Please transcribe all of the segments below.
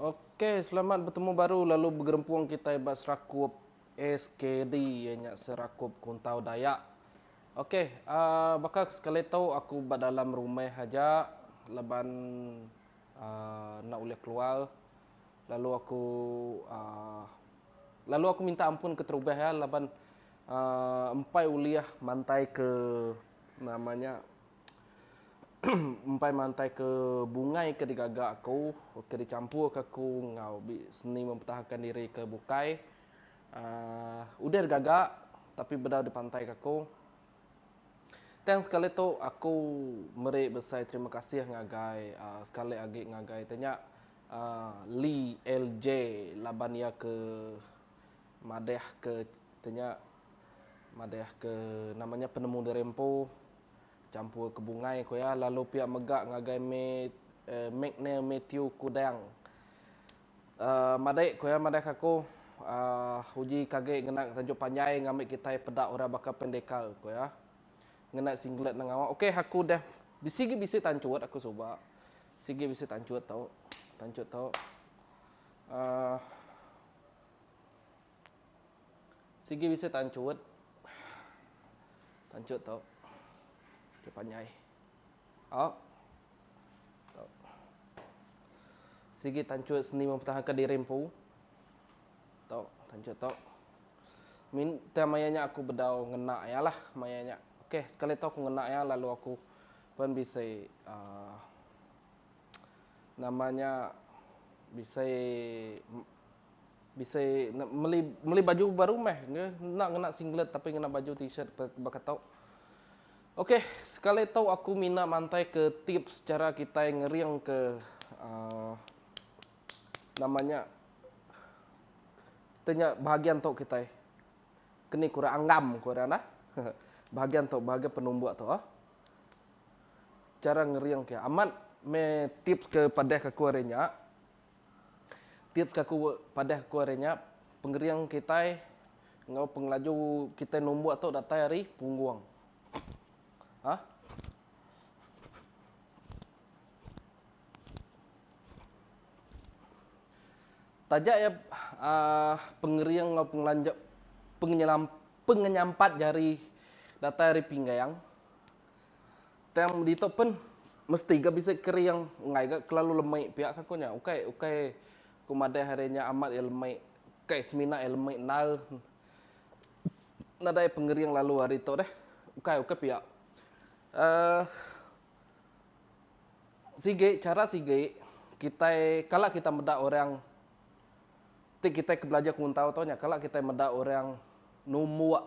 Ok selamat betemu baru lalu begerempung kitai ba serakup SKD iya nya serakup kuntau dayak. Ok a baka ke sekali tu aku ba dalam rumah aja laban a enda ulih keluar lalu aku a lalu aku minta ampun keterubah iya laban a empai ulih mantai ke nama nya Empai mantai ke bungai ke digaga aku ke dicampurka aku enggau be seni mempertahankan diri ke bukai aaa udah digaga tapi bedau dipantaika aku. Tang sekali tu aku meri besai terima kasih ngagai aaa sekali agi ngagai te nya aaa Lee LJ laban iya ke madahka te nya madahka nama nya penemu diri empu Champur ke bungai ku iya lalu pia mega ngagai me Mcnair Mathew Kudang. Uh, madai ku iya madahka aku uh, uji kage ngena tajuk panjai ngambi kitai peda orang baka pendekar ku iya. Ngena singlet nang ngawa. Okey aku dah bisi gi bisi tanchut aku suba. Sigi bisi tanchut tu. Tanchut tu. Uh, Sigi bisi tanchut. Tanchut tu. Dia panjai. Ha. Tu. Sigi tanchut seni mempertahankan diri empu. Tu, tanchut tu. Min tang maya nya aku bedau ngena iya lah maya nya. Okey, sekali tu aku ngena iya lalu aku pun bisi uh, nama nya bisi Bisi meli meli baju baru meh ke enda ngena singlet tapi ngena baju t-shirt baka tu. Ok, sekali tu aku mina mantaika tips chara kitai ngeringka aaa nama nya te nya bahagian tu kitai. Ke ni ku orang anggam ku orang nah. Bahagian tu bahagian penumbuk tu. Chara ngering ke amat meh tips ke padahka aku hari nya. Tips ke aku padah ku ari nya, pengering kitai enggau pengelaju kitai numbuk tu datai ari punggung. Ha? Taja iya uh, pengering enggau pengelanja pengenyelam pengenyampat jari datai ari pinggang. Tang ditu pen mesti ga bisi kering enggai ga kelalu lemi pia ka ku nya. Ukai ukai ku madah ari nya amat iya lemi, ukai semina iya lemi endar nadai pengering lalu ari tu deh. Ukai ukai pia uhh sigi chara sigi kitai kala kita meda orang ti kitai ke belajar ke muntau tu nya kala kitai meda orang numbuk.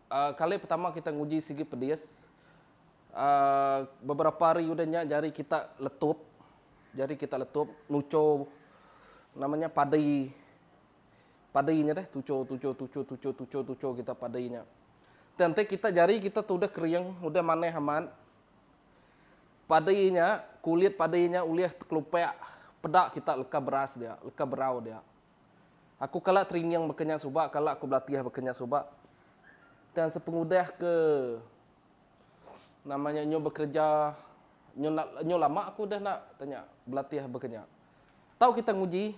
Kali pertama kita nguji sigi pedis beberapa hari udah nya jari kita letup jari kita letup nucho nama nya padi padi nya deh tucho tucho tucho tucho tucho tucho kita padi nya tang enti kita jari kita tu udah kering udah manah amat padi nya kulit padi nya ulih tekelupak peda kita leka beras dia leka berau dia Aku kala training baka nya suba, kala aku belatih baka nya suba. Tang sepengudah ke nama nya nyu bekereja nyu nyu lama aku udah enda tanya belatih baka nya. Tau kita nguji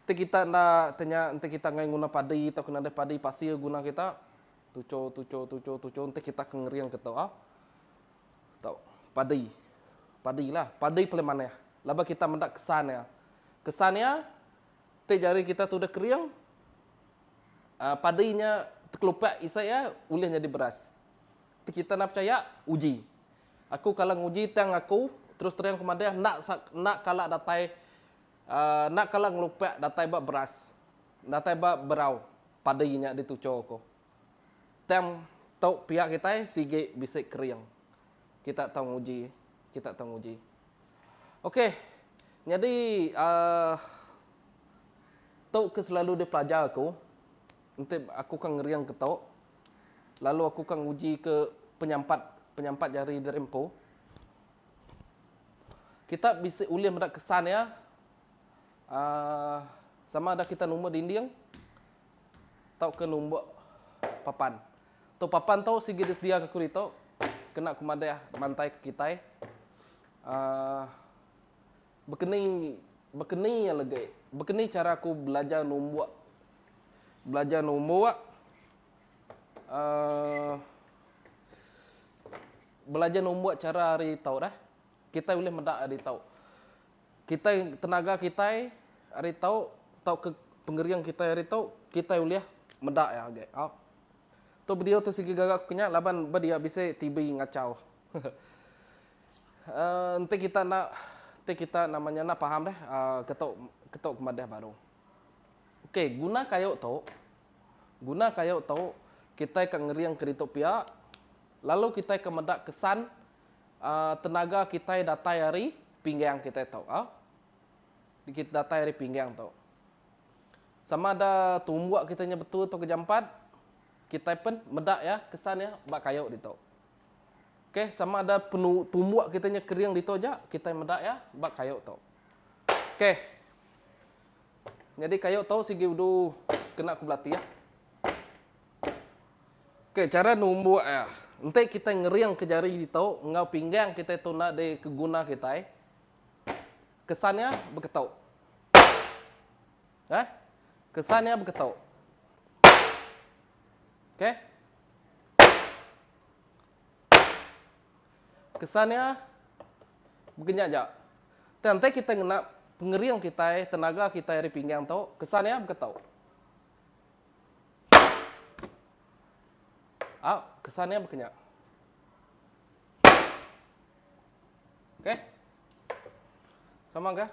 enti kita enda tanya enti kita enggai nguna padi tauka nadai padi pasir guna kita tucho tucho tucho tucho enti kita ke ngering ke tu. Tau. Padi. Padi la. Padi paling manah. Laban kita meda kesan iya. Kesan iya ti jari kita tuduh kering aa padi nya tekelupak isi iya ulih nyadi beras. Ti kita enda pechaya uji. Aku kala nguji tang aku terus terang aku madah enda sa enda kala datai aa enda kala ngelupak datai ba beras. Datai ba berau padi nya ditucho ko. Tang tu pia kitai sigi bisi kering. Kita tau nguji, kita tau nguji. Ok, nyadi uhh tu ke selalu dipelajar aku, enti aku ka ngering ke tu, lalu aku ka nguji ke penyampat, penyampat jari diri empu. Kita bisi ulih meda kesan iya uhh sama ada kita numba dinding. tauka numbuk papan tu papan tu sigi disedia ke kuri tu kena ku madah mantai ke kitai um bekeni bekeni alagi bekeni chara ku belajar numbuk belajar numbuk um belajar numbuk chara ari tau dah kitai ulih meda ari tau. Kitai tenaga kitai ari tau tauka pengering kitai ari tau kitai ulih meda iya agi. Au. Tu video tu sigi gaga aku nya laban ba dia bisi TB ngachau. Uh enti kita enda enti kita nama nya enda paham deh uh ke tau ke tau ke madah baru. Ok guna kayu tu guna kayu tu kitai ka ngering ke ditu pia lalu kitai ka meda kesan tenaga kitai datai ari pinggang kitai tu. Datai ari pinggang tu. Sama ada tumbuk kitai nya betul atau jampat, kitai pen meda iya, kesan iya ba kayu ditu. Ok, sama ada tumbuk kitai nya kering ditu aja, kitai meda iya ba kayu tu. Ok, nyadi kayu tu sigi udu kena ku belati. Okey chara numbuk iya, enti kitai ngeringka jari ditu enggau pinggang kitai tu enda di ke guna kitai kesan iya beketu. Okey kesan iya beketu. Okey kesan iya bekenyat aja. Tang enti kitai ngena pengering kitai tenaga kitai ari pinggang tu kesan iya beketu. Au, kesan iya baka nya. Okey. Sama ga.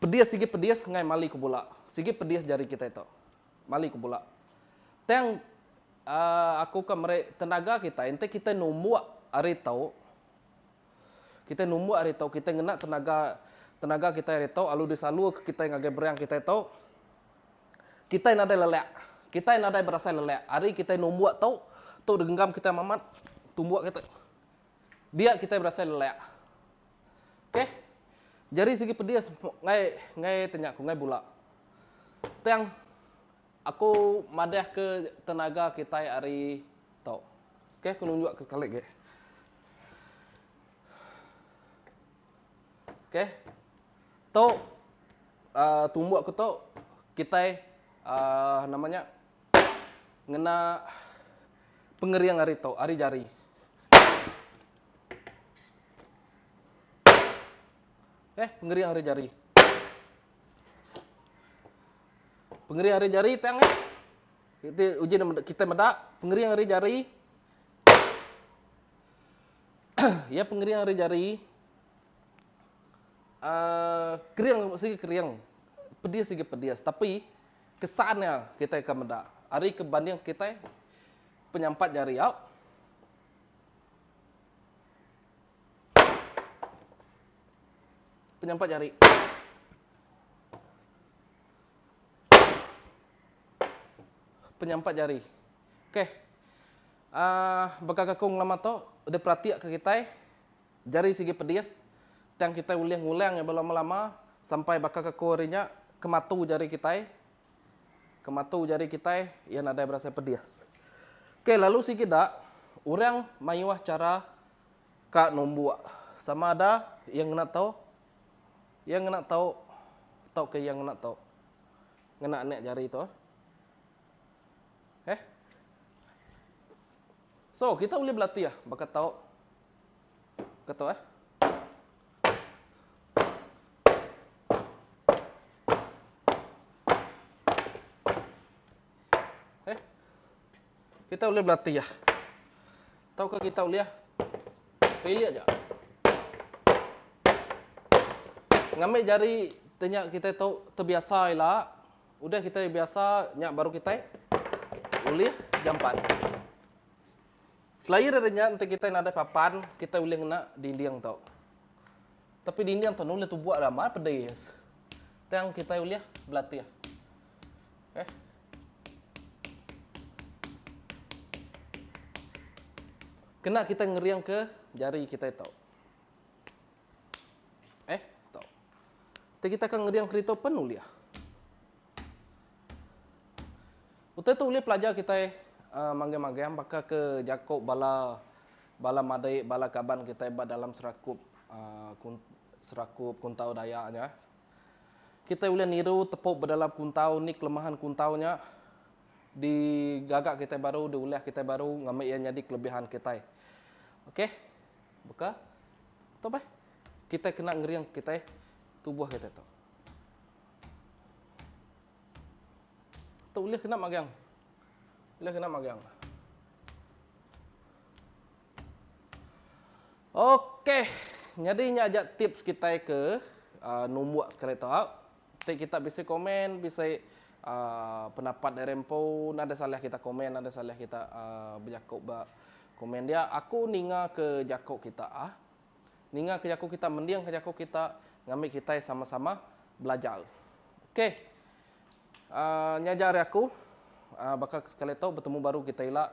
Pedis sigi pedis ngai mali ke bola. Sigi pedis jari kitai tu. Mali ku pula. Tang aku ka meri tenaga kitai enti kitai numbuk ari tu. Kitai numbuk ari tu kitai ngena tenaga tenaga kitai ari tu lalu disalurka kitai ngagai beriang kitai tu. Kitai nadai lelak. Kitai nadai berasai lelak. Hari kitai numbuk tu, tu degengam kitai mamat tumbuk kitai. dia kitai berasai lelak. Ok. Jari sigi pedis ngai ngai tanya aku ngai bula. Tang aku madah ke tenaga kitai ari tu. Ok aku nunjuk ke sekali agi. Ok. Tu uh, tumbuk aku tu kitai uh, nama nya ngena pengering ari tu ari jari. Eh, pengering ari jari. Pengering ari jari tang eh. Kita uji kita meda pengering ari jari. ya pengering ari jari. Uh, kering sigi kering. Pedis sigi pedis. Tapi Kesan nya kitai ka meda ari ke banding kitai penyampat jari au. Penyampat jari. Penyampat jari. Okey. Uh, baka ka ku ngelama tu, diperatika kitai. Jari sigi pedis, tang kitai ulih ngulang iya belum lama sampai baka kaku hari nya ke matu jari kitai, ke matu jari kitai iya nadai berasai pedis. Okey lalu sigi da, orang mayuh chara ka numbuk sama ada iya ngena tau, iya ngena tau tauka iya ngena tau ngena anak jari tu. Heh. So kitai ulih belatih baka tau. Ketu eh. Eh. Kita boleh belatih ya. Tahu ke kita boleh ya. Pilih aja. Ngambil jari tanya kita tu terbiasa ila. Udah kita biasa nya baru kita ulih jampat. Selair ari nya, enti kitai nadai papan, kitai ulih ngena dinding tu. Tapi dinding tu ulih tubuh ramai pedis. Tang kitai ulih belatih. Okay. Eh. Kena kita ngering ke jari kita itu. Eh, tu. Tapi kita akan ngering kereta pun boleh. Utai tu ulih pelajar kitai manggang-manggang baka ke jaku bala bala madei, bala kaban kitai ba dalam serakup um serakup kuntau Dayak nya. Kitai ulih niru tepu bedalam kuntau ni kelemahan kuntau nya digaga kitai baru, diulah kitai baru ngambi iya nyadi kelebihan kitai. Ok, baka tu bah kitai kena ngering kitai tubuh kitai tu. Tu ulih kena magang. Ulih kena magang. Okey. Nyadi nya aja tips kitai ke uh, numbuk sekali tu. Ha? Ti kita bisi komen, bisi uh, pendapat dari empu, nada salah kita komen, nada salah kita uh, bejaku ba komen dia. Aku ninga ke jaku kita ah. ninga ke jaku kita mending ke jaku kita ngambi kitai sama sama belajar ok uhh nya aja ari aku uhh baka ke sekali tu betemu baru kita ila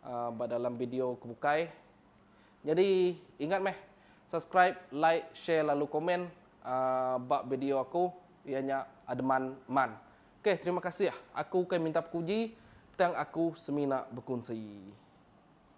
uhh ba dalam video ke bukai nyadi ingat meh subscribe like share lalu komen uhh ba video aku iya nya ademan man ok terima kasih aku ukai minta puji tang aku semina bekunsi.